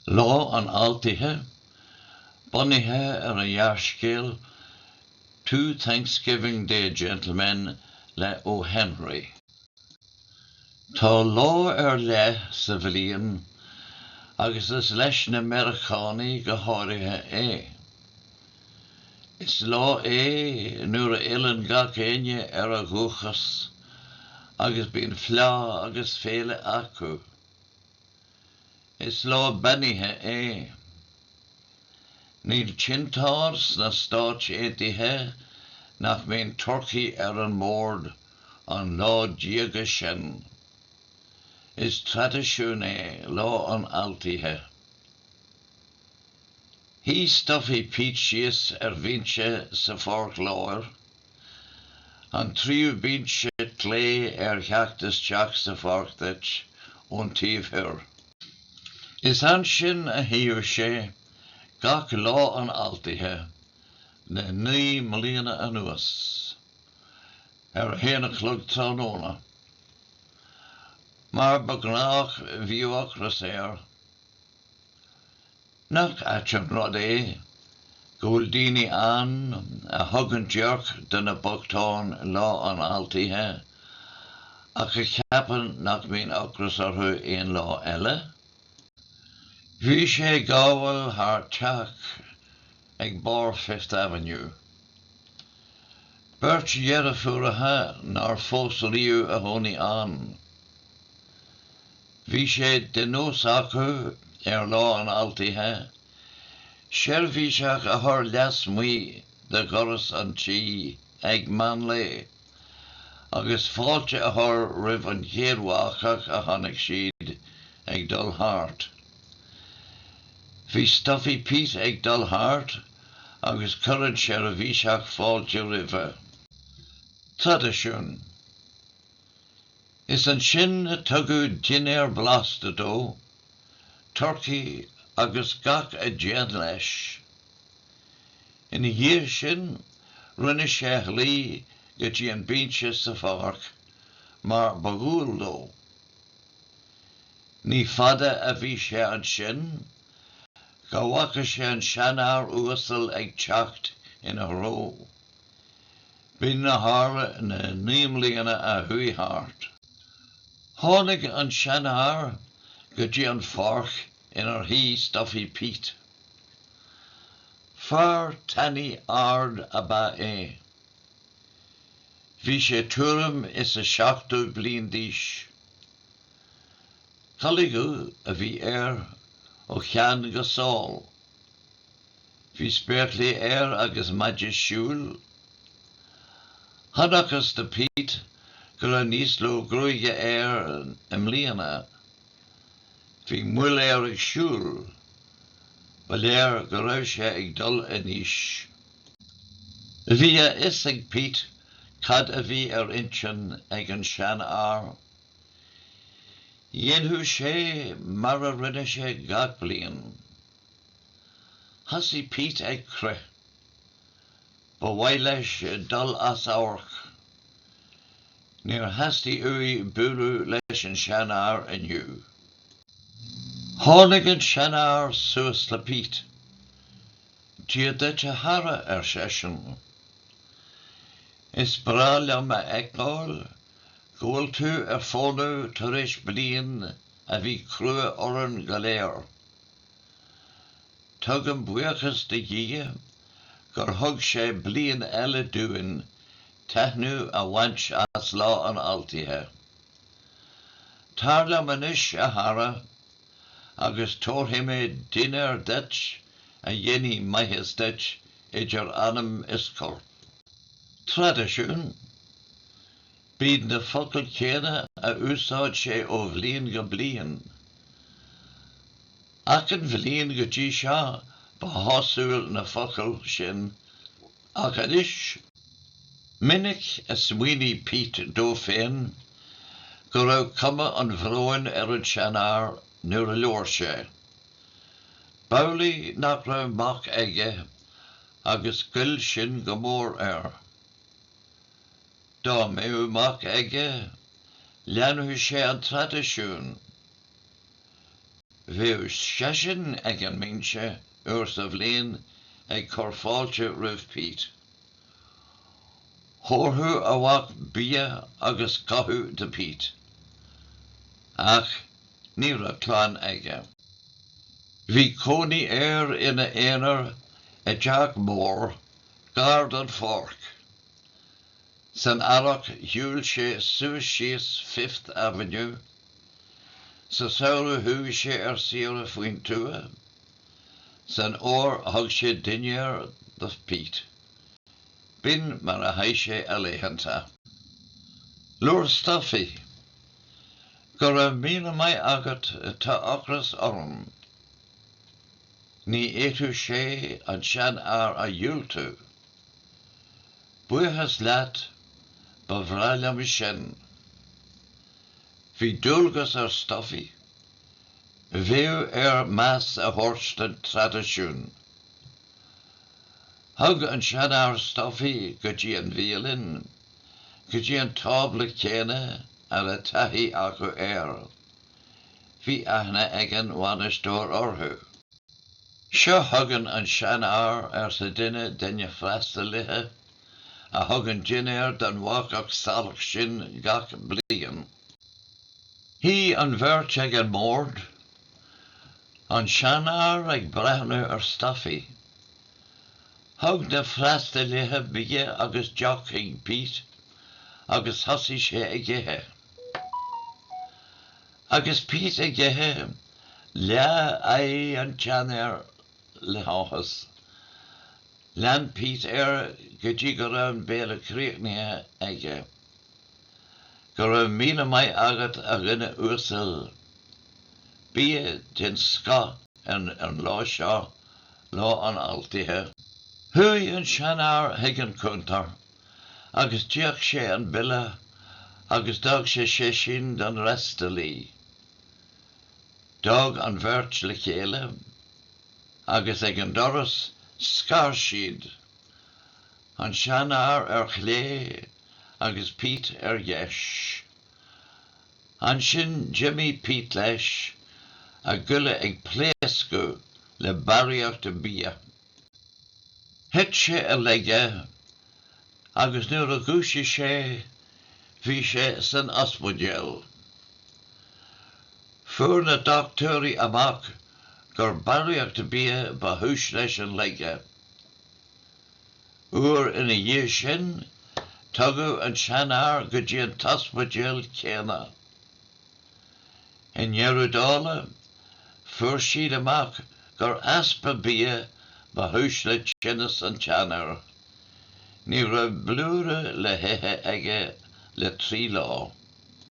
Lá an Altaithe, bunaithe ar an ghearrscéal 'Two Thanksgiving Day Gentlemen' le O. Henry. Tá lá ar leith sa bhliain agus is leis na Meiriceánaigh go háirithe é. Is lá é nuair a fhilleann gach éinne ar a dhúchas agus bíonn fleá agus féile acu. Is lá beannaithe é. Níl tinteán sna Stáit Aontaithe nach mbíonn turcaí ar an mbord an lá diaga sin. Is traidisiún é Lá an Altaithe. Shuigh Stuffy Pete síos ar bhinse sa pháirc láir. An tríú bínse clé ar theacht isteach sa pháirc duit ón taobh thoir. Is ansin a shuíodh sé gach Lá an Altaithe le naoi mbliana anuas, ar a haon a chlog tráthnóna. Mar ba ghnáth bhíodh ocras air. Nach ait an rud é go bhfuil daoine ann a thugann déirc do na bochtáin Lá an Altaithe ach a cheapann nach mbíonn ocras orthu aon lá eile? Bhí sé ag gabháil thar teach ag barr Fifth Avenue. Beirt dheirfiúracha nár phós riamh a chónaigh ann. Bhí sé de nós acu, ar Lá an Altaithe, seirbhíseach a chur leasmuigh de dhoras an tí ag meánlae agus fáilte a chur roimh an chéad bhacach a chonaic siad ag dul thart. Bhí Stuffy Pete ag dul thart agus chuir an seirbhíseach fáilte roimhe. Traidisiún. Is ansin a tugadh dinnéar blasta dó, turcaí agus gach a dtéann leis. Ina dhiaidh sin rinne sé a shlí go dtí an binse sa pháirc mar ba dhual dó. Ní fada a bhí sé annsin go bhfaca sé an sean-fhear uasal ag teacht in a threo. B'in a tharla na naoi mbliana a chuaidh thart. Tháinig an sean-fhear go dtí an pháirc in ar shuidh Stuffy Pete. Fear tanaí árd ab eadh é. Bhí sé tuairim is a seachtó bliain d'aois. Culaith dhubh a bhí air ó cheann go sáil. Bhí spéaclaí air agus maide siúil. Chonacthas do Pete go raibh níos lú gruaige air i mbliana. Bhí moill air ag siúl. Ba léir go raibh sé ag dul in aois. Bhí a fhios ag Pete cad a bhí ar intinn ag an seanfhear. Dhéanfadh sé mar a rinne sé gach bliain. Thosaigh Pete ag crith. Ba mhaith leis dul as amharc. Níor theastaigh uaidh bualadh leis an seanfhear inniu. Tháinig an seanfhear suas le Pete. Dia duit, a chara, ar seisean. Is breá liom a fheiceáil go bhfuil tú ar fónamh tar éis bliain a bhí crua orainn go léir. Tugaim buíochas do Dhia gur thug sé bliain eile dúinn taitneamh a bhaint as Lá an Altaithe. Tar liom anois, a chara, agus tabharfaidh mé dinnéar duit a dhéanfaidh maitheas duit idir anam is corp. Traidisiún, B'iad na focail chéanna a úsáid sé ó bhliain go bliain. Achan bhliain go dtí seo ba shásúil na focail sin ach anois Minic a smaoinigh Pete dó féin go raibh cuma an bhróin ar an seanfhear nuair a labhair sé. B'amhlaidh nach raibh mac aige agus ghoill sin go mór air. Dá mbeadh mac aige, leanfadh sé an traidisiún. Bheadh seisean ag an mbinse uair sa bhliain ag cur fáilte roimh Pete. Thabharfadh a mhac bia agus cothú do Pete. Ach Ní raibh clann aige. Bhí cónaí air ina aonar i dteach mór gar don pháirc. San earrach shiúil sé suas síos Fifth Avenue, sa samhradh chuaigh sé ar saoire faoin tuath, san fhómhar thug sé dinnéar do Pete. B'in mar a chaith sé a laethanta. Labhair Stuffy. Go raibh míle maith agat tá ocras orm. Ní fhéadfadh sé an seanfhear a dhiúltú. Buíochas leat, ba bhreá liom sin. Bhí dualgas ar Stuffy, bheadh air meas a thabhairt don traidisiún. Thug an seanfhear Stuffy go dtí an bhialann. go dtí an tábla céanna a raibh taithí acu air. Bhí aithne ag an bhainisteoir orthu. Seo chugainn an seanfhear, arsa duine de na freastalaithe, a thugann dinnéar don bhacach salach sin gach bliain. Shuigh an bheirt ag an mbord, an seanfhear ag breathnú ar Stuffy. Thug na freastalaithe bia agus deoch chuig Pete agus thosaigh sé ag ithe. Agus Pete ag ithe, leath aghaidh an tseanfhir le háthas. Lean Pete air go dtí go raibh an béile críochnaithe aige. Go raibh míle maith agat a dhuine uasail. Bia den scoth an lá seo Lá an Altaithe. Chuaigh an seanfhear chuig an gcuntar agus d'íoc sé an bille agus d'fhág sé séisín don fhreastalaí. D'fhág an bheirt le chéile agus ag an doras scar siad, an seanfhear ar chlé agus Pete ar dheis. Ansin d'imigh Pete leis, a ghoile ag pléascadh le barraíocht bia. Thit sé i laige agus nuair a dhúisigh sé bhí sé san ospidéal. Fuair na dochtúirí amach gur barraíocht bia ba chúis leis an laige. uair ina dhiaidh sin, tugadh an seanfhear go dtí an t-ospidéal céanna. I ndeireadh dála, fuair siad amach gur easpa bia ba chúis le tinneas an tseanfhir. Ní raibh blúire le hithe aige le trí lá.